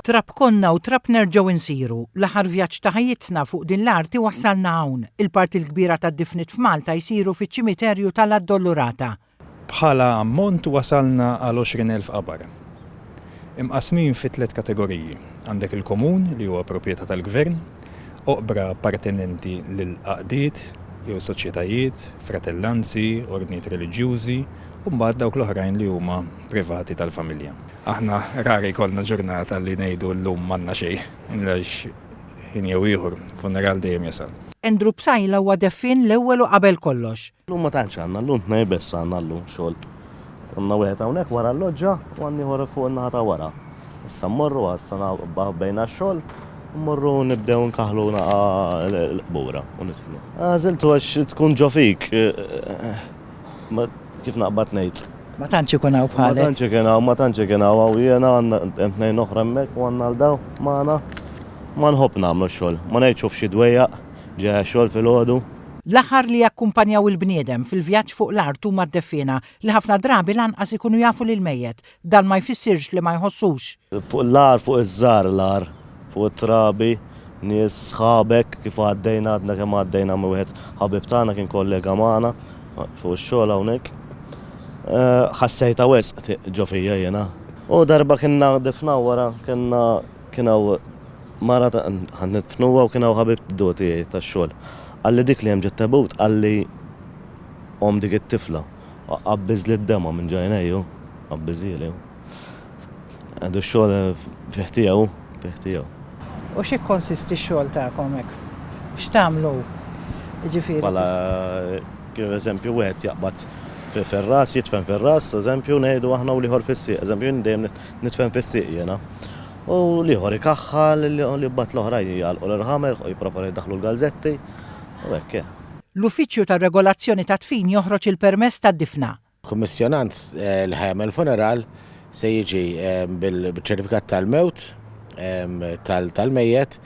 Trab konna u trab nerġgħu nsiru. L-aħħar vjaġġ ta' ħajjitna fuq din l-arti wassalna hawn. Il-parti l-kbira tad-difniet f'Malta jsiru fiċ-ċimiterju ta' l-Addolorata. Bħala ammont wasalna għal 20 elf qabar. Imqassmin fi tliet kategoriji, għandek il-komun li huwa proprjetà tal-gvern, oqbra appartenenti lil għaqdiet jew soċjetajiet, fratellanzi, ordnijiet reliġjużi, u mbagħad dawk l-oħrajn li huma privati tal-familja. Aħna rari jkollna ġurnata li ngħidu llum m'għandna xejn, għax ħin jew ieħor, funeral dejjem jasal. Andrew Psaila huwa deffien l-ewwel u qabel kollox. Llum ma tantx għandna, llum tnejn biss għandna llum xogħol. Għandna wieħed hawnhekk wara l-loġġa u għandna ieħor fuq in-naħa ta' wara. Issa mmorru għal sena bdejna x-xogħol, mmorru nibdew nkaħħlu naqa' l-qbura u nidfnu. Għażiltu għax tkun ġo fik. Kif naqbad ngħid? Ma tantx ikun hawn bħalek. Ma tantx ikun hawn, ma tantx ikun hawn hawn jiena għandna hemm tnejn oħra hemmhekk u għandna għal dawn magħna. Ma nħobb nagħmlu x-xogħol. Ma ngħidx hu f'xi dwejjaq, ġejja x-xogħol filgħodu. L-aħħar li jakkumpanjaw il-bniedem fil-vjaġġ fuq l-art huma d-defiena, li ħafna drabi lanqas ikunu jafu lill-mejjet. Dan ma jfissirx li ma jħossux. Fuq l-għar, fuq iż-żgħar l-għar, fuq it-trabi, nies, sħabek, kif għaddejna, għadna kemm għaddejna minn wieħed ħabib tagħna, kien kollega magħna fuq ix-xogħol hawnhekk. Ħassejtha wisq ġo fija jiena. U darba kienna difnaw wara, kellna Kien hawn mara ta' ħadd nidfnuha u kien hawn ħabib du tiegħi tax-xogħol. Qalli dik li hemm ġo t-tebut qalli omm dik it-tifla. Qabbiżli d-dema' minn ġ'għajnejja hu, qabbiżhieli hu. Għadu x-xogħol fih tiegħu hu, fih tiegħu. U x'jikkonsisti x-xogħol tagħkom hekk? X'tagħmlu jiġifieri? Bħala kif eżempju wieħed jaqbad fir-ras, jidfen fir-ras, eżempju ngħidu aħna u l-ieħor fis-sieq. Eżempju jien dejjem Nidfen fis-sieq jiena. U l-ieħor ikaħħal li mbagħad l-oħrajn jgħalqu l-irħamerħ u jipproponu jdaħħlu l-galżetti u hekk hi. L-Uffiċċju tar-Regolazzjoni tad-Dfin joħroġ il-permess tad-difna. Kummissjonant l-ħemel funeral se jiġi bil-ċertifikat tal-mewt tal-mejjet.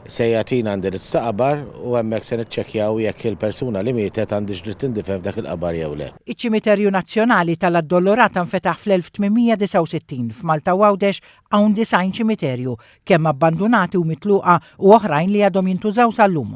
Se jagħtina indirizz ta' qabar u hemmhekk se niċċekkjaw jekk il-persuna li mietet għandhiex dritt tindifen f'dak il-qabar jew le. Iċ-Ċimiterju Nazzjonali tal-Addolorata nfetaħ fl-1869. F'Malta u Għawdex hawn 90 ċimiterju, kemm abbandunati u mitluqa u oħrajn li għadhom jintużaw sal-lum.